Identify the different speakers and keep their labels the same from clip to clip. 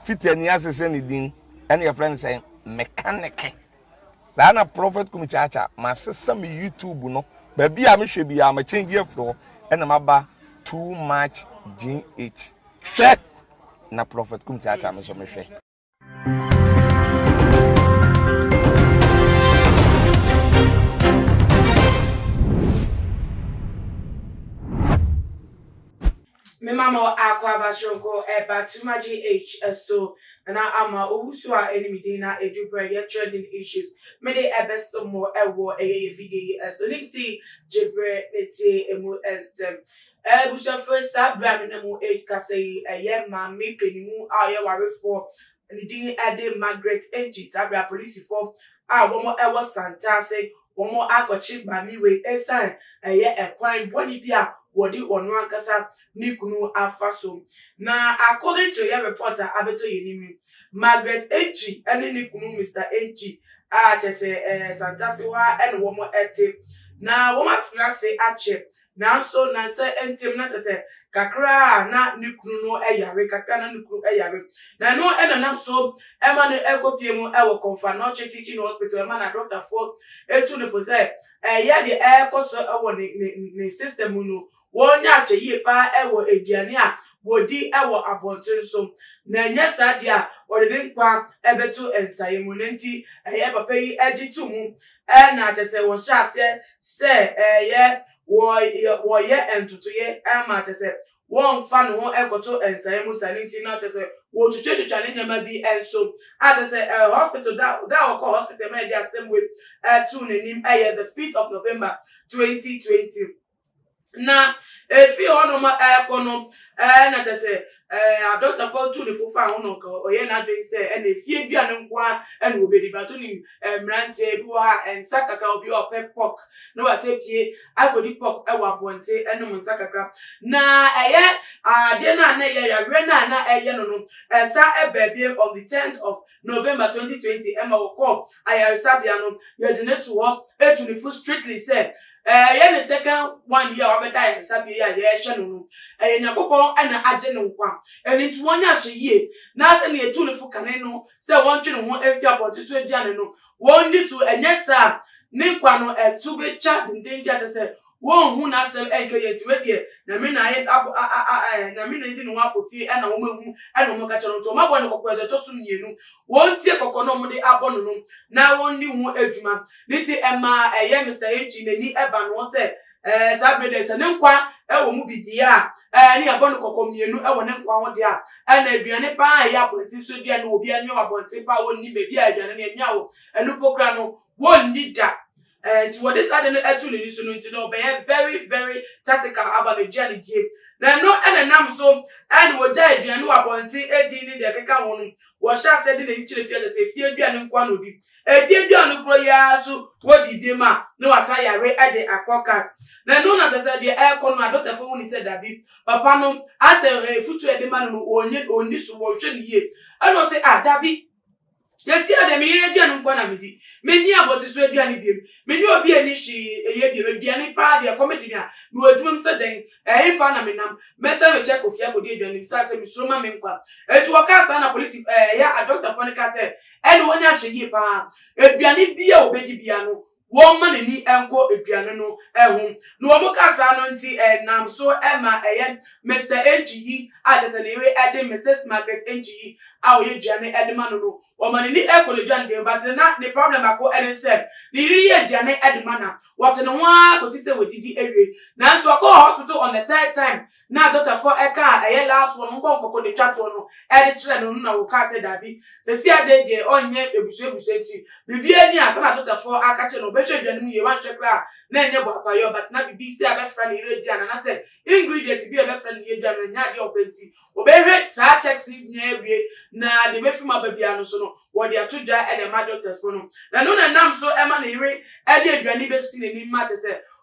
Speaker 1: Fiti ani ase sɛ ne din ɛna yɛfrɛ no sɛ mekaneke. Saa na Prophet Kumi Kyaakya masesa me YouTube no baabi a mehwɛ biara ma change afiri hɔ ɛna maba too much GH. Hwɛ na Prophet Kumi Kyaakya me so mehwɛ.
Speaker 2: Me ma mo akwaaba soronko ɛba to ma GH so na ama owu so a ɛne me din na ɛdu berɛ yɛ trending issues mede ɛbɛso mo ɛwɔ ɛyɛ yɛ video yi ɛso ne nti gye berɛ ne tie ɛmu nsɛm Abusuafoɔ saa berɛ a me ne mo ɛkasa yi ɛyɛ maame panimu a ɔyɛ warefoɔ ne din de Margaret Ngit aber a polisifo a wɔwɔ Santa ase wɔakɔkye maame wei esiane ɛyɛ kwan bɔne bi a wɔde ɔno ankasa ne kunu afa so. Na according to yɛ report a abɛtɔ yɛn anim no, Margaret Ngit ne ne kunu Mister Ngit a kyerɛ sɛ Santa ase hɔ ara na wɔte na wɔatena ase akyɛ Nanso na sɛ ntem na kyerɛ sɛ kakra a na ne kunu no yare, kakra a na ne kunu yare. Na ɛno na nam so ma no kɔpie mu wɔ Komfanoche Teaching Hospital, ɛma na dɔktafoɔ tu no fo sɛ ɛyɛ deɛ ɛrekɔ so wɔ ne system mu no, wɔnya akyɛ yie pa ara wɔ aduane a wɔdi wɔ abɔnten so, na ɛnyɛ saa deɛ a wɔde ne nkwa bɛto nsaeɛ mu. Ɛno nti ɛyɛ papa yi gye to mu na kyerɛ sɛ wɔhyɛ aseɛ sɛ ɛyɛ wɔyɛ wɔyɛ ntotoyɛ ma kyerɛ sɛ wɔmfa ne ho nkɔto nsaeɛ mu saa no nti na kyerɛ sɛ wɔtwitwatwitwa ne nneɛma bi nso a kyerɛ sɛ ɛɛ hospital da da a wɔkɔ hospital ma yɛde asɛm wei ɛtoo n'anim ɛyɛ the fifth of November twenty twenty. Na efii hɔ nom ɛɛkɔ no ɛɛ na kyɛ sɛ ɛɛ adɔktafoɔ tu ne fo faa ho na ɔka ɔyɛɛ n'adwene sɛ ɛna efie aduane nko ara ɛna ɔbɛdi but wonim ɛɛ mmeranteɛ bi wɔ ha a nsa kakra obi a ɔpɛ pork na wasɛ pie akɔdi pork ɛwɔ abɔnten ɛnom nsa kakra na ɛyɛ adeɛ no a na ɛyɛ yareɛ no a na ɛyɛ no no ɛsa ɛbaa biem on the tenth of November twenty twenty ɛma wɔkɔɔ ayaresabea no yɛde no to hɔ etu ne fo strictly sɛ ɛyɛ ne second one yi a wabɛda ayaresabea yi a yɛrehwɛ no no ɛyɛ Nyankopɔn ɛna agye ne nkwa ɛno nti wɔnyɛ ahwɛyie na sɛnea yɛtu ne fo kane no sɛ wɔntwe ne ho mfi abɔnten so aduane no wɔndi so ɛnyɛ saa a ne nkwa no ɛto bɛtwa dendenden a kyerɛ sɛ Wonnhu n'asɛm nnkɛ yie nti wei deɛ Nyame na ayɛ ab a a a eh Nyame na edi ne ho afofie ɛna wɔn ahu ɛna wɔn kakyɛ no nti wɔn abɔ no kɔkɔ ɛda ɛtɔ so mmienu wɔn tie kɔkɔ na wɔn de abɔ no no na wɔn di ho adwuma ne ti ɛmaa ɛyɛ Mister Echi n'ani ɛba no ho sɛ ɛɛ saa bere deɛ sɛ ne nkwa ɛwɔ mu bi deɛ a ɛɛ ne yɛbɔ no kɔkɔ mmienu ɛwɔ ne nkwa ho deɛ a ɛna aduane paa a ɛyɛ abɔnten so aduane wɔ obi anwia wɔ abɔnten paa wɔnni baabi a aduane no yɛnwia wɔ ɛno po kora no wɔnni da Enti wɔde saa ade no ato n'ani so no nti no, ɔbɛyɛ very very tactical aba no gye a ne tie. Na ɛno na ɛnam so na wɔgyae aduane wɔ abɔnten adi ne deɛ ɛkeka ho no, wɔhyɛ aseɛ de n'ani kyerɛ fie aseɛ sɛ efie aduane nko ara na ɔdi. Efie aduane no korɔ yi ara nso wɔdi bi ma na wasan yare de akɔ kan. Na ɛno na kyerɛ sɛ deɛ ɛrekɔ no adɔktafo hu no sɛ dabi, papa no asɛ afutuo a yɛde ma no no ɔnni so, wɔnhwɛ no yie. Ɛna ɔse ah dabi. Sɛsi ara deɛ me yere aduane nko na medi. Menni abɔteso aduane biom. Me ne obi anni hwee ɛyɛ biom. Aduane paa deɛ ɛkɔm de me a, mewɔ adwumam sɛ dɛn? Ɛhefa na menam? Mɛsan me kyɛ kofie akɔdi aduane mu sane sɛ mesuro ma me nkwa. Enti wɔkaa saa na polisi, ɛyɛ adɔktafoɔ no kaa sɛ ɛne wɔn nyɛ ahwɛyie paa. Aduane biara a wɔbɛdi biara no, wɔmma n'ani nkɔ aduane no ho. Na wɔn ka saa no nti nam so ma ɛyɛ Mister Nchiyi a kyerɛ sɛ ne yere de Missus Margaret Nchiyi a ɔyɛ aduane de ma no no, wɔma n'ani kɔ n'aduane de ho. But na ne problem baako ne sɛ ne yere yɛ aduane de ma no a, ɔte ne ho ara kɔsi sɛ wadidi awie. Nanso ɔkɔɔ hospital on the third time Na adɔtafoɔ ɛka a ɛyɛ last one mo bɔ nkɔkɔ de twa toɔ no ɛde kyerɛ no no na wokaa sɛ daabi sɛsi adɛn deɛ ɔnyɛ abusua abusua nti biribiaa ni a sɛna adɔtafoɔ aka kyerɛ no ɔbɛhwɛ aduane mu yie wanhwɛ koraa a na ɛnyɛ boapayɔ but na bibi sɛ abɛfra ne yere aduane anasɛ ingredient bi a ɛbɛfra ne yere aduane no ɛnyɛ adeɛ a ɔpɛ nti ɔbɛhwɛ saa checks no nyinaa awie na deɛ ɛbɛfiri mu aba biaa no so no Wɔde ato gya de ama dɔktɛsfo no, na ɛno na ɛnam so ma ne yere de aduane besi n'anim ma kyerɛ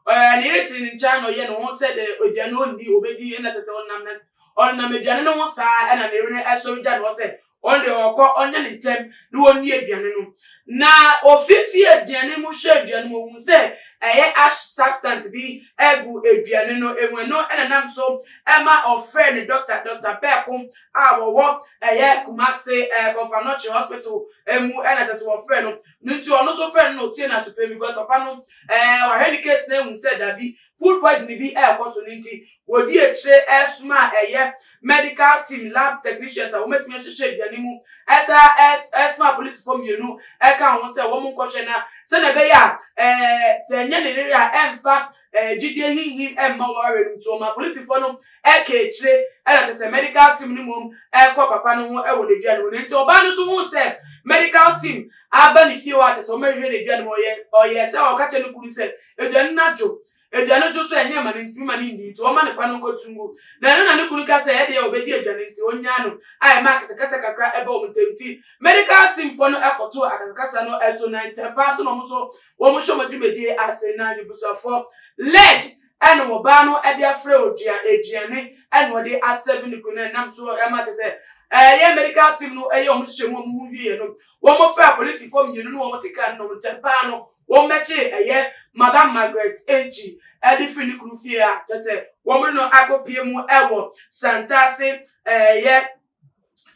Speaker 2: sɛ ne yere te ne nkyɛn na ɔyɛ ne ho sɛ dɛ aduane no onni, obedi na kyerɛ sɛ ɔnam na ɔnam aduane no ho saa na ne yere no sɔre gya ne hɔ sɛ ɔno deɛ ɔkɔ ɔnyɛ ne ntɛm na ɔnni aduane no. Na ofifi aduane mu hwɛ aduane mu, ohun sɛ ɛyɛ ash substance bi gu aduane no mu, ɛno na ɛnam so ma ɔfrɛɛ ne dɔkta, Dɔkta Pɛɛko a wɔwɔ ɛyɛ Kumasi ɛɛ Kɔfa Nɔkye hospital ɛmu ɛna ɛsɛ sɛ wɔfrɛ no no nti ɔno nso frɛ no na otie no aso pɛ because papa no ɛɛ wahwɛ ne case na ehu sɛ dabi food poisoning bi ɛɛkɔ so no nti wɔdi akyire ɛɛsoma ɛyɛ medical team lab technicians a wɔbɛtumi ahyehyɛ aduane mu ɛsa ɛɛs ɛɛsoma polisifoɔ mmienu ɛka ho sɛ wɔn nkɔhwɛ na sɛdeɛ ɛbɛyɛ a ɛɛ sɛ ɛnyɛ ne yere a ɛmfa Ɛɛ gyidie hinhim mma wɔn awerɛ mu nti wɔn ma polisifɔ no ɛka akyire ɛna kyerɛ sɛ medical team no mmom ɛkɔ papa no ho ɛwɔ n'adua no mu na nti ɔbaa no nso huu sɛ medical team aba ne fie hɔ a kyerɛ sɛ wɔn ɛhwɛ n'adua no mu ɔyɛ ɔyɛɛ sɛ ɔka kyerɛ ne kunu sɛ aduane no adwo aduane dwo so ɛnyɛ ma no ntimi ma no nni nti wɔma ne kwan no nkɔtu ngu na ɛno na ne kunu ka sɛ ɛdeɛ ɔbɛdi aduane nti ɔnyaa no a ɛma akasakasa kakra ɛba wɔn ntam nti medical team foɔ no ɛkɔtoo akasakasa no ɛso na ntɛmpaa nso na wɔn nso wɔn hyɛ wɔn dwumadie ase na nebusuafoɔ led ɛne wɔ baa no ɛde afrɛ odua aduane ɛne wɔde asɛve ne kuro no ɛnam so ɛma te sɛ ɛyɛ medical team no ɛyɛ wɔn hyehyɛ mu wɔn ho wie no wɔn fɛ apolisifoɔ mmienu no wɔn te kan no ntɛm paa no wɔn bɛkye ɛyɛ madam margaret enkyi ɛde firi ne kuro fie a kyɛ sɛ wɔn no akɔpie mu ɛwɔ santaase ɛyɛ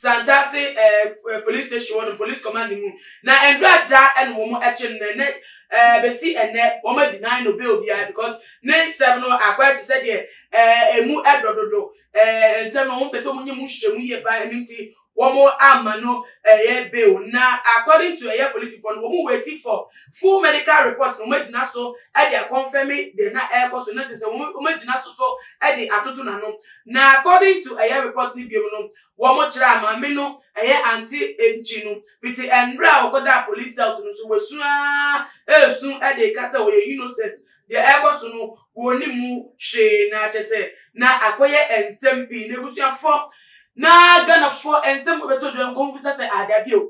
Speaker 2: Santase ɛɛ eh, police station hɔ no police command mu na ɛnura da ɛna wɔn ɛkye no na ɛnɛ ɛɛ eh, bɛsi ɛnɛ wɔn adi nan no bail biara because ne nsɛm no akɔyɛ te sɛ deɛ ɛɛ emu ɛdɔ dodo ɛɛ nsɛm no wɔn pɛ sɛ wɔn nyɛ mu hyehyɛ mu yie paa ɛnu nti wɔn ama no ɛyɛ bail na according to ɛyɛ polisifoɔ no wɔn wait for. Full medical report na wɔagyina so de akɔnfɛme deɛ na ɛrekɔ so no te sɛ wɔn wɔagyina so so de atoto n'ano. Na according to ɛyɛ report no bio no, wɔkyerɛɛ maame no ɛyɛ Ante Nchi no fiti ɛmmerɛ a ɔkɔdaa police cells no nso wasu ara resu de reka sɛ ɔyɛ innocent deɛ ɛrekɔ so no wɔnnim mu hwee na kyɛ sɛ na akɔyɛ nsɛm pii na abusuafoɔ na Ghanafoɔ nsɛm bɛtɔ dwa nkɔmmisa sɛ ada bio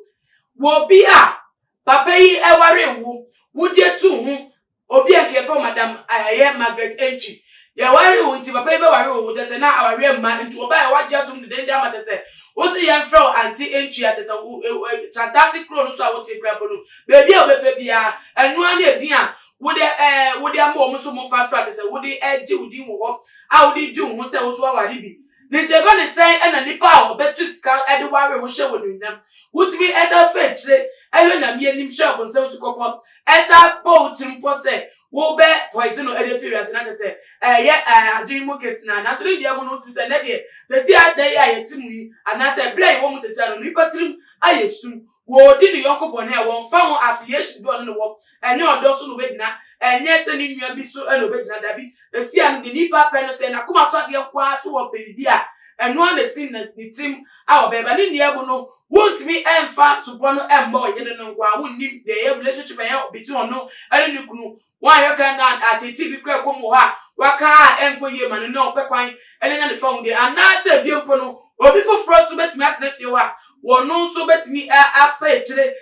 Speaker 2: wɔ obi a Papa yi waree wo wo di atuu ho obi a nka yɛfrɛ wo madam ɛyɛ Margaret Antwi. Yɛwaree wo nti papa yi bɛware wo wo kyɛ sɛ na awareɛ mma nti wɔbaeɛ wagye atom dendenden ama kyɛ sɛ wose yɛmfrɛ wo Auntie Antwi a kyɛ sɛ wo e e Santase kuro no so a wote koraa mpo no baabi a wobɛfa biara ɛno ara ne edin a wode ɛɛ wode ama wɔn nso wɔmfa mfrɛ kyɛ sɛ wode ɛregye wo din wɔ hɔ a wode regye wo ho sɛ wo nso woaware bi. Ne tiabɔ ne sɛn na nnipa a wɔbɛtu sika de ware wo hyɛ wo anuonyam. Wotumi san fa akyire hwɛ Nyame anim hyɛ ɔbonsam atukɔpɔ, san bɔ wo tirim pɔ sɛ wobɛ poison no de afi wiase na kyerɛ sɛ ɛyɛ adwene mu kesenaa. Nanso ne nnuamu no wotumi sɛ nnɛ deɛ, seesei a da yi a yɛte mu yi anaasɛ bere a yɛwɔ mu seesei ara no, nnipa tirim ayɛ sum. Wɔredi ne yɔnko bɔne a, wɔmfa ho affiliation bi a ɔne no wɔ, ɛnyɛ ɔdɔ so na obegyina, ɛnyɛ sɛ ne nua bi so na obegyina, dabi, ɛsi ano de, nipa pɛ no, sɛ n'akoma so adeɛ nko ara so wɔ mpɛn bi a, ɛno ara na ɛsi ne tirim a ɔbɛyɛ, ba ne nnua mu no, wontumi mfa supɔ no mmɔ ɔyere no nko ara, wonnim deɛ ɛyɛ relationship a ɛyɛ between ɔno ne ne kunu, Wanyɛ pɛ na ateetee bi koraa kɔ mu wɔ hɔ a waka a ɛnkɔ yie ma no na ɔpɛ kwan de anya ne fahudeɛ. Anaasɛ ebia mpo no, obi foforɔ nso bɛtumi atena fie hɔ a wɔno nso bɛtumi afa akyire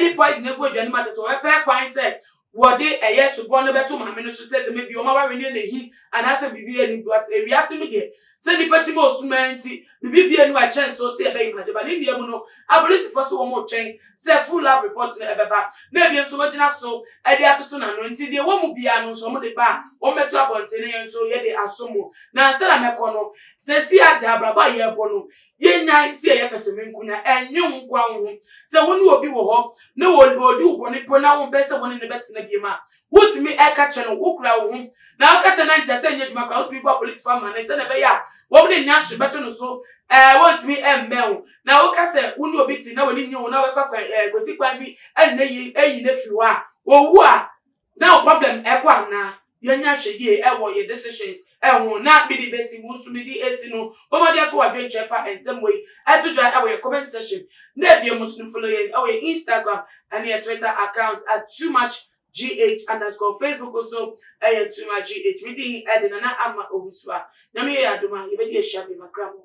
Speaker 2: de poison agu aduane mu atete. Wɔbɛpɛ kwan sɛ wɔde ɛyɛ subɔ no bɛto maame no so sɛ dɛm bi wɔn awareɛ no yɛ no ahi anaasɛ biribi a ɛnni mu. But ewiase mu deɛ, Sɛ nnipa ti ma ɔsum ara nti, biribi bue no a ɛkyɛn nso sɛ yɛbɛyem agye ba. Ne nnua mu no, apolisifo so wɔn retwɛn sɛ full lab report no ɛbɛba, na ebinom nso wɔagyina so de atoto n'ano. Nti deɛ ɛwɔ mu biara no nso wɔn de ba a, wɔmmɛto abɔnten na yɛn nso yɛde asom mo. Na ansa na mɛkɔ no, seesei ara de abrabɔ a yɛrebɔ no, yɛnnyae sɛ yɛyɛ pɛsɛmenkominya. Ɛnnwe wo nkoa wo ho. Sɛ wo ne obi wɔ hɔ na ɔredi wo bɔne mpo na wompɛ sɛ wo ne no bɛtena bio a, Wotumi ka kyerɛ no, wokura wo ho, na woka kyerɛ no na nkyerɛ sɛ ɛnyɛ adwuma koraa. Wotumi boa polisifo amanne sɛnea ɛbɛyɛ a wɔn de nyanhwere bɛto no so a wɔrentumi mmɛn wo, na woka sɛ wo ne obi te na w'ani nnye wo na wobɛfa kwan eh, kwasi kwan bi ne no ayi ayi no afiri hɔ a, owu a, na wo problem kɔ anaa? Yɛnyɛ nhwɛ yie wɔ yɛn decisions ho na mede besi wo nso mede esi no. Bɔ mmɔden fa w'adwenkyerɛ fa nsɛm wei to dwa wɔ yɛn comment section na ebien mo nso no follow yɛn wɔ yɛn Instagram ne yɛn Twitter account at too much GH underscore Facebook nso yɛ too much GH. Me din de Nana Ama Owusu a Nyame yɛ yɛn adom a yɛbɛdi ahyia bema kra mo.